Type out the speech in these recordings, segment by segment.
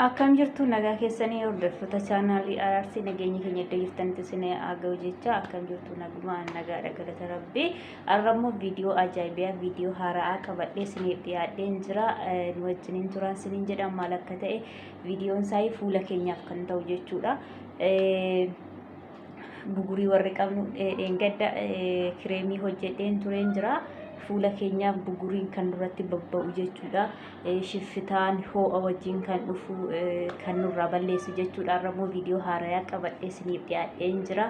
Akkam jirtu nagaa keessanii hordoftoota chaanaalii araarsi nageenya keenya iddoo jirtanitti isin haa ga'u jecha akkam jirtu nagumaan nagaadha galata rabbii arrammoo viidiyoo ajaa'ibaa viidiyoo haara'aa qabadhee isiniif dhiyaadheen jira Eh, nu wajjiniin turaan isiniin jedha maal akka ta'e viidiyoon isaa fuula keenyaaf kan ta'u jechuudha. Eh, bugurii warri qabnu eh, dheengadda eh, kireemii hojjedheen tureen jira. Fuula keenyaaf buguriin kan nurratti babba'u jechuudha. Eh, Shiffitaan hoo'a wajjin kan dhufu eh, kan nurraa balleessu jechuudha. Har'a immoo viidiyoo haarayaa qabadhee isiniif dhiyaadheen jira.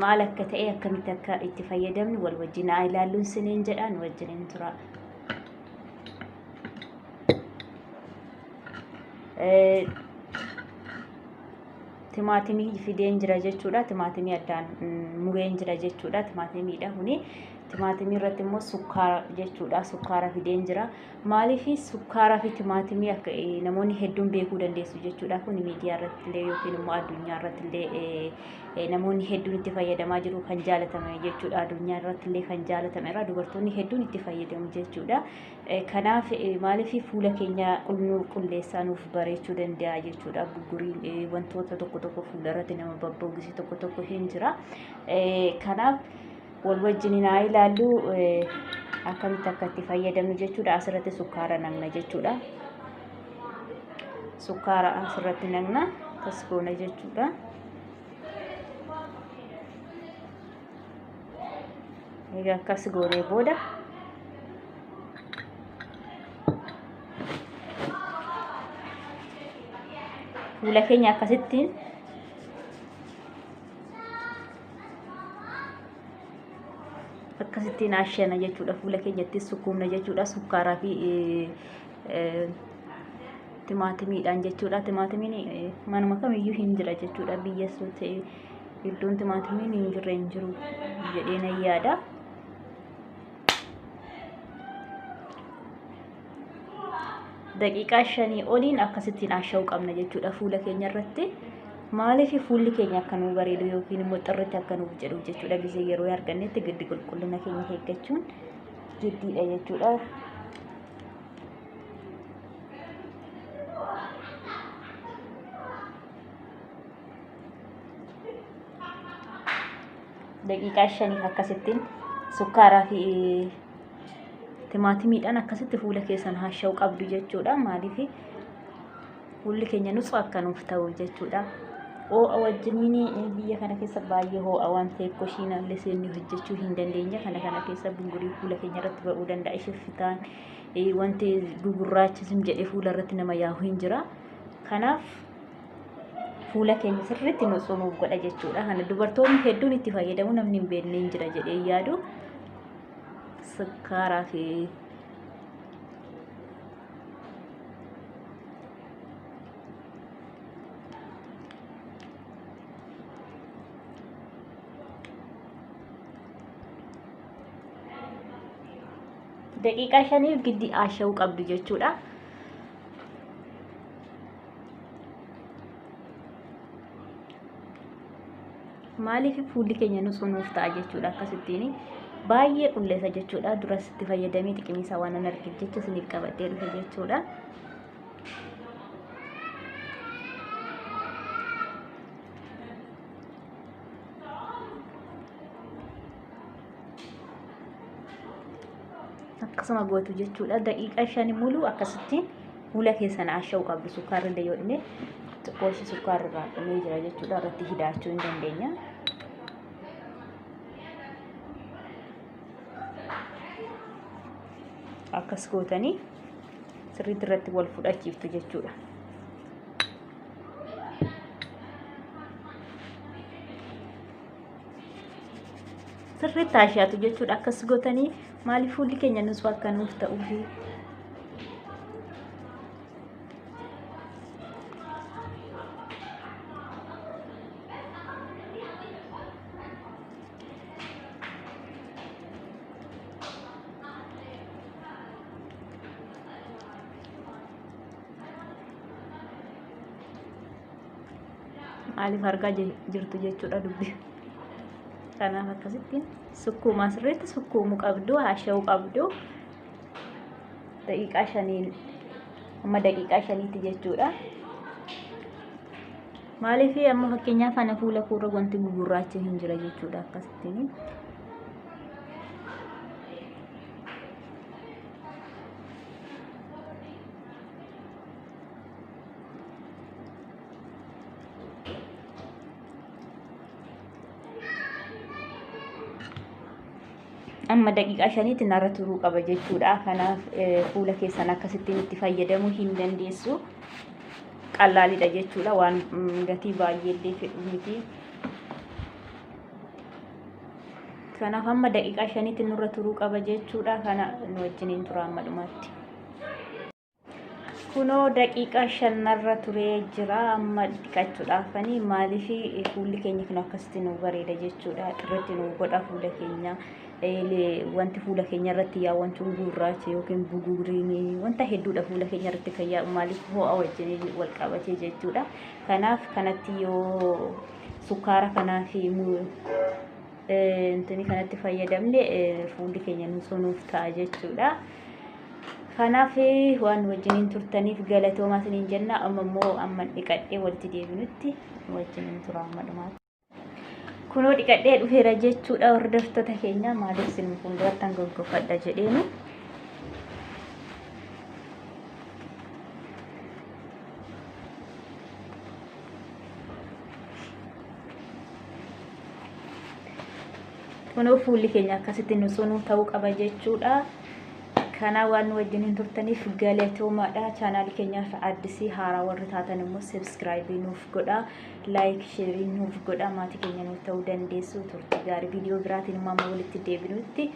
Maal akka ta'e akkamitti akka itti fayyadamnu wal wajjin haa ilaalluun isiniin jedha nu wajjiniin tura. Eh, timaatimii fideen jira jechuudha. Timaatimii addaan mureen jira jechuudha. Timaatimiidha kuni. Timaatimii irratti immoo sukkaara jechuudha. Sukkaara fideen jira. Maaliif sukkaara fi timaatimii akka namoonni hedduun beekuu dandeessu jechuudha. Kun miidiyaa irratti illee yookiin immoo addunyaa irratti illee namoonni hedduun itti fayyadamaa jiru kan jaalatame jechuudha. Addunyaa irratti illee kan jaalatameera. Dubartoonni hedduun itti fayyadamu jechuudha. Kanaaf maaliif fuula keenya nu qulleessaa nuuf bareechuu danda'a jechuudha. Bugguriin wantoota tokko tokko fuula irratti nama babboogisi tokko tokko hin jira. Kanaaf wal wajjin haa ilaallu akkamitti akka itti fayyadamnu jechuudha. Asirratti sukkaara naqna jechuudha. Sukkaara asirratti naqna tasgoona jechuudha. Egaa akkas goonee booda fuula keenya akkasitti akkasitti naashana jechuudha fuula keenyatti sukkuumna jechuudha sukkaaraa fi timaatimiidhaan jechuudha timaatimiin manuma kamiyyuu hin jira jechuudha biyya ta'e Iddoon timaatimiin hin jirre hin jiru jedhee nan yaada. Daqiiqaa shanii oliin akkasittiin asha'uu qabna jechuudha fuula keenya irratti. Maaliif fuulli keenya akka nuu bareedu yookiin immoo xirritti akka nuuf jedhu jechuudha gisee yeroo argannetti giddi qulqullina keenya eeggachuun giddiidha jechuudha. daqiiqaa shaniif akkasittiin sukkaaraa fi timaatimiidhaan akkasitti fuula keessan haasha'u qabdu jechuudha maaliif fuulli keenya nutsu akka nuuf ta'u jechuudha hoo'a wajjiniin biyya kana keessa baay'ee hoo'a waan ta'eef koshiin allee seennee hojjechuu hin dandeenye kana kana keessa bungurii fuula keenya irratti ba'uu danda'a shiffitaan wanti gugurraachism jedhee fuula irratti nama yaa'u hin jira kanaaf fuula keenya sirriitti nuuf godha jechuudha. Kana dubartoonni hedduun itti fayyadamu namni hin beekne hin jira jedhee yaadu. Sukkaaraa fi daqiiqaa shaniif giddi aasha'uu qabdu jechuudha. maaliif fuulli keenya nu sunuuf ta'a jechuudha akkasittiin baay'ee qulleessa jechuudha duras itti fayyadamee xiqimisaa waan hin argine jecha isiniif qabadhee dhufe jechuudha. akkasuma gootu jechuudha daqiiqaa shanii muluu akkasittiin Fuula keessan asha'u qabdu sukkaarri illee yoo dhume xiqqoo ishee sukkaarri irraa dhumee jira jechuudha irratti hidaachuu hin dandeenya. Akkas gootanii sirriitti irratti wal fudhachiiftu jechuudha. Sirriitti ashaatu jechuudha akkas gootanii Maaliif fuulli keenya nusuu akka nuuf ta'uu fi maaliif argaa jirtu jechuudha dubbi kanaaf akkasitti sukkuumaa sirriitti sukkuumuu qabdu haasha'uu qabdu daqiiqaa shaniin amma daqiiqaa shaniitti jechuudha maaliif amma fakkeenyaaf ana fuula kuurra wanti gugurraacha hin jira jechuudha akkasittiin amma daqiiqaa shaniitti narra turuu qaba jechuudha. Kanaaf fuula keessan akkasittiin itti fayyadamuu hin dandeessu. Qallaalidha jechuudha waan gatii baay'ee illee fedhu miti. Kanaaf amma daqiiqaa shaniitti nurra turuu qaba jechuudha. Kana nu wajjiniin tura amma dhumaatti. kunoo daqiiqaa shanarra turee jira amma dhiqachuudhaafanii maaliif fuulli keenya kun akkasitti nu bareeda jechuudha irratti nu godha fuula keenya wanti fuula keenya irratti yaa wanti gurraacha yookiin buguuriin wanta hedduudha fuula keenya irratti kan yaa'u maaliif ho'a wajjin wal qabatee jechuudha kanaaf kanatti yoo sukkaara kanaa fi intini kanatti fayyadamne fuulli keenya nuuf ta'a jechuudha. Kanaaf waan wajjiniin turtaniif galatoomaa isiniin jenna. Amma immoo amma dhiqadhee walitti deebinutti wajjiniin tura amma dhumaatti. Kunoo dhiqadhee dhufeera jechuudha hordoftoota keenya maaliif isin fuulduratti hanga goggofadha jedheenu. Kunoo fuulli keenya akkasitti nu sunuu ta'uu qaba jechuudha. Kanaa waan nu wajjin hin turtaniif galatoomaadha. Chaanaali keenyaaf addisii haaraa warri taatan immoo subscribe nuuf godha. Like, share nuuf godha. Maatii keenya nuuf ta'uu dandeessu. Turtii gaarii viidiyoo biraatiin immoo amma walitti deebinutti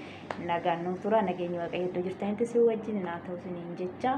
nagaan nuuf tura. Nageenyi waaqayyo iddoo jirtanitti si wajjin naa ta'u siniin jecha.